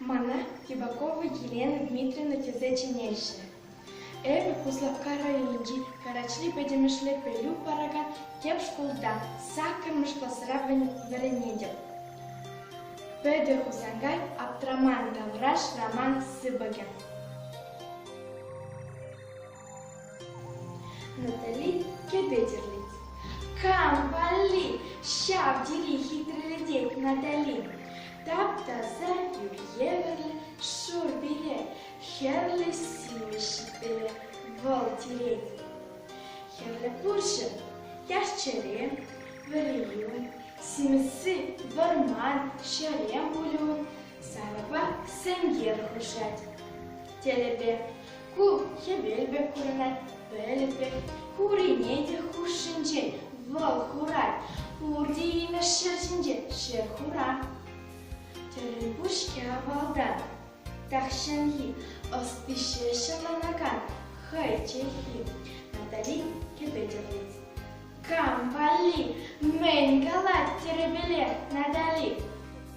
Мана Кивакова Елена Дмитриевна тесе чӗнеҫҫӗ. Эпӗ Куславкка районӗнчи Карачри пӗтӗмӗшле пӗлӳ паракан тӗп шкулта саккӑрмӗш класра вӗренетӗп. Петӗр Хусанкай аптраман тавраш роман сыпӑкӗ. натали кӗпе кам валли ҫав тери хитрелетет натали тап-таса тӳр евӗрлӗ шур пире хӗрлӗ сивӗ ҫиппеле вӑл тирет хӗрлӗ пурҫӑ яш-чӗре вӗрию симӗси вӑрман ҫерем пулю сарӑпа сенкер хушать телепе Ку хӗвел пек курӑнать, пӗлӗт пек. Пуррине те хушшинчен вӑл хурать. Пурте имӗш ҫӗр ҫинче ҫӗр хура. Тӗрӗл пуҫке авалтан. Тахҫанхи ӑстище ҫӑланакан хӑйчехи. Натали кӗпе Кам валли? Мӗн калать тӗрӗпеле Натали?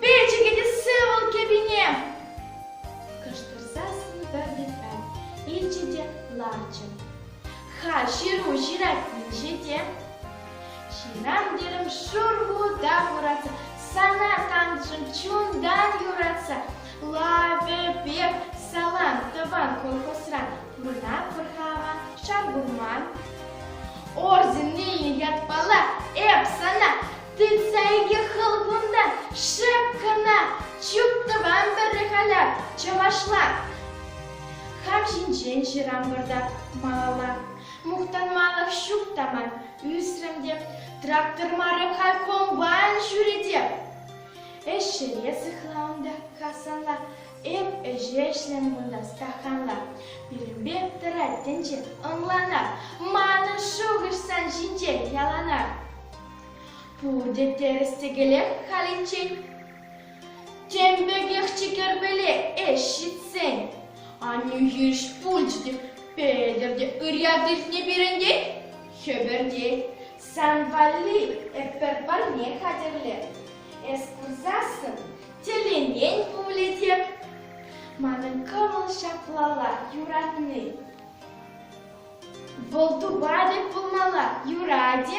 Перчӗкӗтессе вӑл кӗпине! кӑштӑрса сӑнкӑртатать личӗ те ларчӗ. Ха, ҫыру ҫыратнинче те. Ҫырам терӗм шурхута хуратса, сана тантшӑм чунтан юратса. Лавӗ пек салам тӑван колхозран мана пӑрхама шар курман. Орденне ятпала эп сана Тытса икӗ хыл кунта, шеп кӑна! Чуп тӑван вӗрре халя, чӑвашла! Хам ҫинчен ҫырам пӑртак малалла. Мухтанмалӑх ҫук та ман, ӳсрӗм те. Трактор мары халь комбайн ҫӳре те. Ӗҫ ҫӗре сыхла унта касанла. Эп ӗҫе ӗҫлем кунта стаханла. Пирӗнпе тӑрать тӗнче, ӑнлана. Манӑн шухӑш сан ҫинчен яланах. Пурте тӗрӗс-тӗкелех халиччен тем пекех чикерпеле ӗҫ ҫитсен, Анюхӳҫ пулчӗ те Петӗр те ырьят иртне пирӗнтен хӗпӗртет. Сан валли эпир парне хатӗрлем. Эс курсассӑн тӗлӗнен пулӗ те. Манӑн кӑмӑл ҫаплала юратни. Вӑл тупатӑп пулмалла, юрать-и?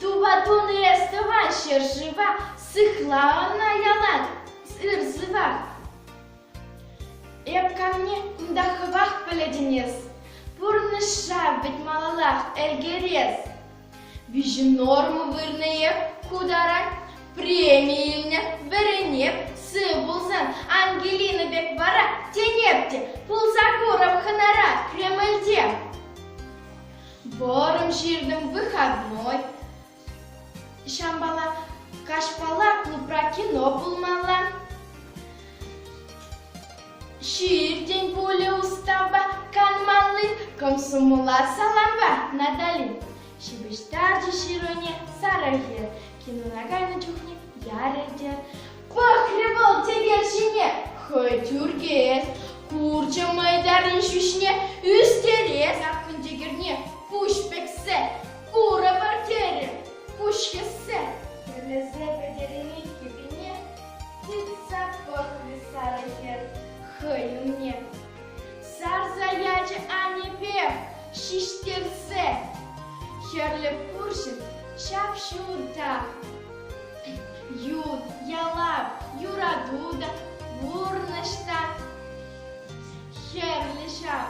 Тупа тунӑ эс тӑван ҫӗршыва, сыхла ӑна ялан ыр-сывах. Эп камне кунта хӑвах пӗлетӗн эс, пурнӑҫа вӗт малаллах ӗлкӗрес. Виҫӗ норма вырнӑ-и ку тара? Преми илнӗ, вӗренеп, сыв пулсан, Ангелина пек вара тенеп те пулса курӑм хӑнара Кремльте. Борӑм ҫыртӑм выходной. Ҫампала каҫпала клубра кино пулмалла. Ҫиртӗн пулӗ устапа канмалли комсомола салампа Натали. Ҫыпӑҫтарчӗ Ҫыруне сарӑхӗ, кинона кайнӑ чухне ярӗ те. Пӑхрӗ вӑл текел ҫине, хӑй тӳркес, курчӗ мӑйтарин ҫӳҫне, ӳстерес аппын текерне, пуҫ пӗксе, курӑпӑр терӗ, пуҫ хӗссе, тӗлӗсе пӗтерӗн иккӗ пине. Тытса пӑхрӗ сарӑ хӗр хӑй умне. Сарса ячӗ аннепе ҫиҫтерсе. Хӗрлӗ пурҫӑн ҫап-ҫутта. Ют ялав, юрату та пурнӑҫ та хӗрлӗ ҫав.